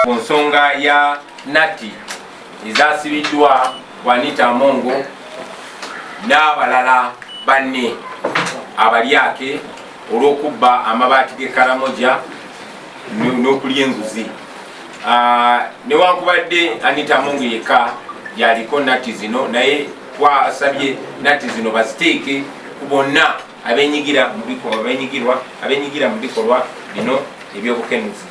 ku nsonga ya nati ezasibiddwa wanita amongo n'abalala banne abalyake olw'okubba amabaati g'ekaramoja n'okulya enguzi ah, newankubadde anita amongo yekka yaliko nati zino naye twasabye nati zino baziteeke ku bonna abenyigira mu bikolwa benyigirwa abenyigira mu bikolwa bino ebyobukenuzi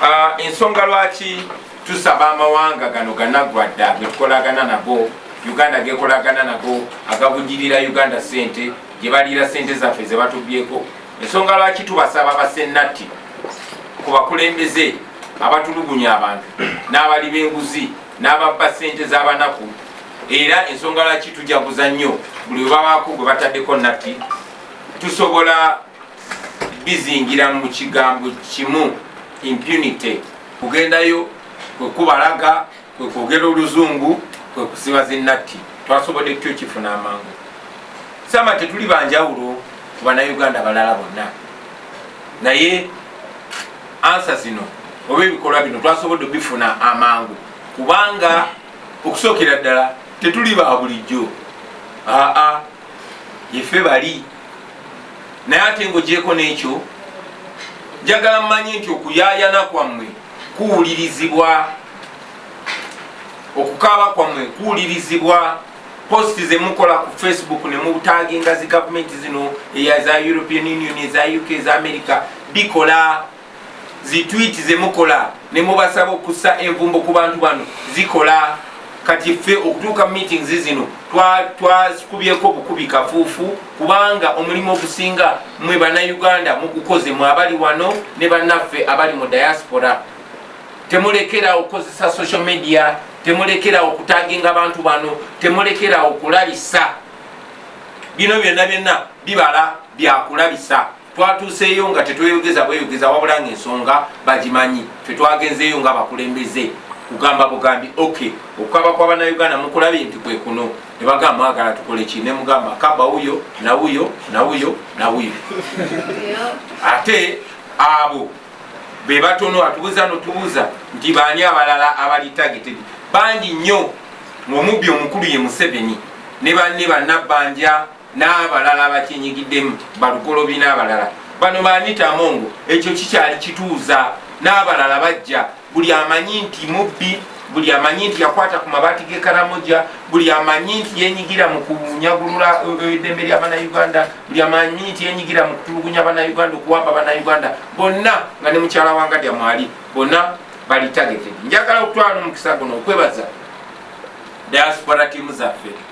ah, ensonga lwaki tusaba amawanga gano ganagwa dda getukolagana nago uganda gekolagana nago agabujirira uganda sente gyebaliira sente zaffe zebatubyeko ensonga lwaki tubasaba basennatti ku bakulembeze abatulugunya abantu n'abali b'enguzi n'ababba sente z'abanaku era ensonga lwaki tujaguza nnyo buli webabaako gwe bataddeko natti tusobola bizingira mu kigambo kimu impunity kugendayo kwekubalaga kwekwogera oluzungu kwekusiba zinatti twasobodde tutyo kifuna amangu sama tetuli banjawulo ku banauganda balala bonna naye ansa zino oba ebikolwa bino twasobodde bifuna amangu kubanga okusookera ddala tetuli ba bulijjo aa yefe bali naye ate ngaogyeko n'ekyo njagala mmanyi nti okuyayana kwammwe kuwulirizibwa okukaaba kwammwe kuwulirizibwa post zemukola ku facebook nemutaginga zi gavumenti zino eya za european union eza uk eza america bikola zitwiti zemukola nemubasaba okussa envumbo ku bantu bano zikola kati ffe okutuuka meetings zino twazikubyeko bukubi kafuufu kubanga omulimu ogusinga mwe banauganda mugukoze mwe abali wano ne bannaffe abali mu diaspora temulekerawo okukozesa social media temulekerawo okutaginga abantu bano temulekerawo okulabisa bino byonna byonna bibala byakulabisa twatuuseeyo nga tetweyogeza bweyogeza wabula nga ensonga bagimanyi fe twagenzeeyo nga bakulembeze kugamba bugambi ok okukaba kwa banauganda mukulabye nti kwekuno nebagamba mwagala tukole ki nemugamba kaba wuyo nawuyo nawuyo nawuyo ate abo bebatono atubuza notubuza nti baani abalala abali targeted bangi nnyo ngaomubbi omukulu ye museveni ne banne banabbanja n'abalala abakyenyigiddemu balukolobi n'abalala bano baanita amongo ekyo kikyali kituuza n'abalala bajja buli amanyi nti mubbi buli amanyi nti yakwata ku mabaati gekaramoja buli amanyi nti yenyigira mu kunyagulula eh, eh, eddembe lya banauganda buli amanyi nti yenyigira mu kutulugunya banauganda okuwamba banauganda bonna nga ne mukyala wanga dya mwali bonna bali targeted njagala okutwala nomukisa guno okwebaza diaspora tiimu zaffe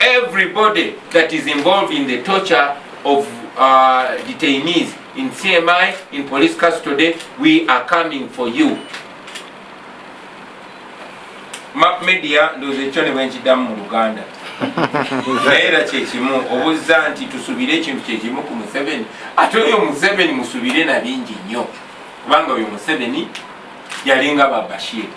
Everybody that is involved in the torture of uh, detainees in CMI, in police custody, we are coming for you. Map media ndoze chone wenchi damu mu Uganda. Naira chechimu, obuza nti tusubire chintu chechimu ku Museveni. Ato yo Museveni musubire na bingi nyo. Kubanga yo Museveni yalinga babashiri.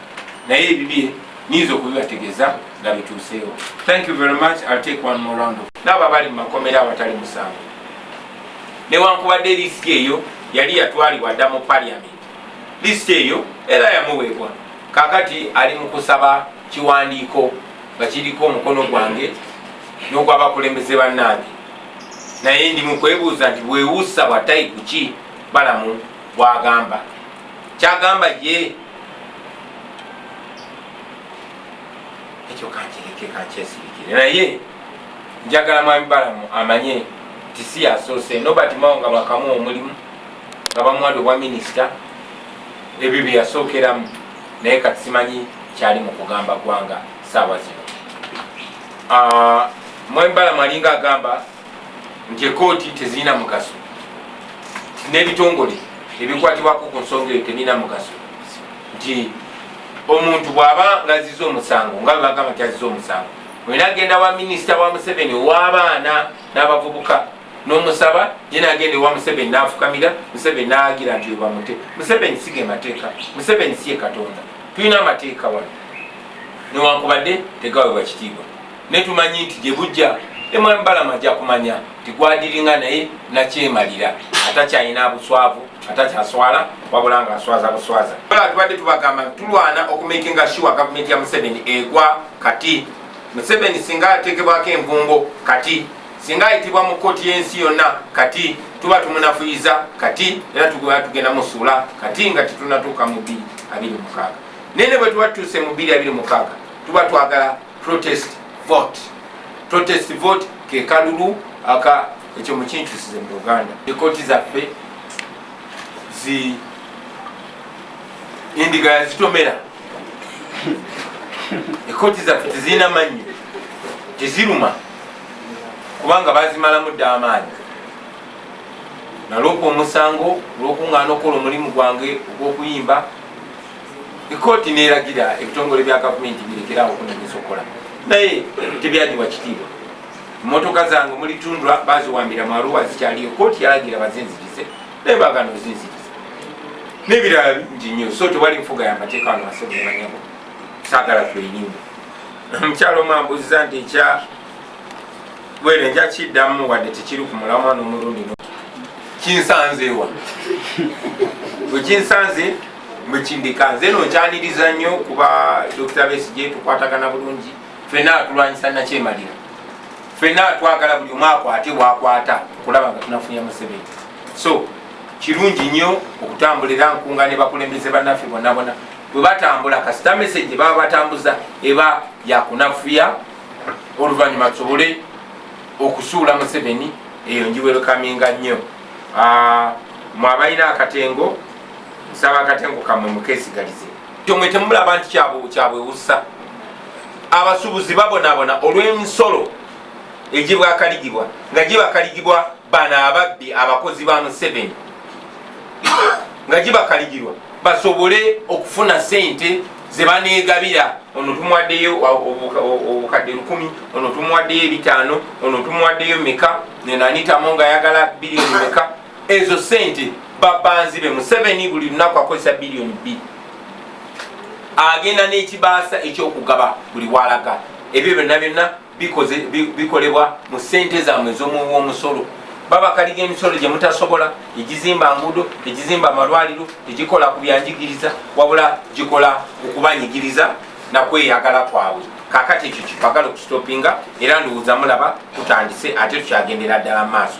Na ye bibie, nizo kubiwa tegeza. nga bituuseewo thank you very much I'll take one more round naabo abali mu makomera awatali musango newankubadde lisiti eyo yali yatwalibwa dda mu parliament lisiti eyo era yamuweebwa kakati ali mu kusaba kiwandiiko nga kiriko omukono gwange n'ogwabakulembeze bannange naye ndi mu kwebuuza nti bwewuusa bwatayi kuki balamu bwagamba kyagamba ye ekyo kankireke kankyesirikire naye njagala mwami balamu amanye nti si yasoose nobert mao nga bakamu omulimu nga bamuwade obwa minisita ebyo byeyasookeramu naye kati simanyi kyali mu kugamba ggwanga saawa zino ah, mwami balamu alinga agamba nti ekooti tezirina mugaso n'ebitongole ebikwatibwako ku nsonga eyo tebirina mugaso nti omuntu bw'aba ngaziza omusango nga bwebagamba nti aziza omusango mwena agenda wa minisita wa museveni ow'abaana n'abavubuka n'omusaba ye nagenda ewa museveni n'afukamira museveni n'agira nti webamute museveni siga emateeka museveni si ye katonda tulina amateeka wano newankubadde tegawebwa kitiibwa naye tumanyi nti gye bujja emwami balama ajja kumanya nti gwadiringa naye nakyemalira atakyalina buswavu atakyaswala wabula nga aswaza buswaza ola tubadde tubagamba tulwana okumakinga shuwa gavumenti ya museveni egwa kati museveni singa atekebwako envumbo kati singa ayitibwa mu kkooti y'ensi yonna kati tuba tumunafuyiza kati era tugea tugenda musuula kati nga tetunatuuka mu 2 abiri mukaaga naye ne bwe tuba tutuuse mu 2 abiri mukaaga tuba twagala protest vote protest vote kekalulu aka ekyo mukinkyusize mu uganda ekooti zaffe zi endiga yazitomera ekooti zaffe tezirina mannyo teziruma kubanga bazimalamu dda amaanyi nalwoka omusango olwokuŋŋaana okukola omulimu gwange ogw'okuyimba Ekkooti neeragira ebitongole bya gavumenti birekerawo okunonyeza okukola naye tebyadiwa kitiibwa. Mmotoka zange mulitundwa baziwambira mu Arua zikyaliyo. Kkooti yalagira bazinzirize naye baagana ozinziriza n'ebirala bingi nnyo. So tewali nfuga ya mateeka wano wansi mubanyabo saagala tweyirimba. Omukyalo omu ambuuziza nti ekya bwere nja kiddamu wadde tekiri ku mulamwa n'omulundi kinsanzeewa wekinsanze mwekindika nze no nkyaniriza nnyo kuba dokita besigye tukwatagana bulungi fena atulwanyisa nakyemalira fena twagala buli omu akwate bwakwata kulaba nga tunafunya museveni so kirungi nnyo okutambulira nkunga ne bakulembeze bannaffe bonabona bwe batambula kasita meseje baba batambuza eba yakunafuya oluvannyuma tusobole okusuula museveni eyo njiwerukaminga nnyo ah, mwabalina akatengo nsaba akatengo kamwe mukesigalize tomwe temulaba nti kyabwewusa abasubuzi babonabona olw'emisolo egibwakaligibwa nga gibakaligibwa bano ababbi abakozi ba museveni nga gibakaligirwa basobole okufuna sente zebanegabira ono tumuwaddeyo obukadde lukumi ono tumuwaddeyo ebitaano ono tumuwaddeyo meka nenanitamo nga ayagala biriyoni meka ezo sente babanzibe museveni buli lunaku akozesa biliyoni bbiri agenda n'ekibaasa ekyokugaba buli walaga ebyo byonna byonna bikolebwa mu sente zamwe ez'omuwomusolo babakaliga emisolo gye mutasobola egizimba nguudo egizimba amalwaliro egikola ku byanjigiriza wabula gikola okubanyigiriza nakweyagala kwabwe kakati ekyo kibagala okusitopinga era ndowooza mulaba kutandise ate tukyagendera ddala mu maaso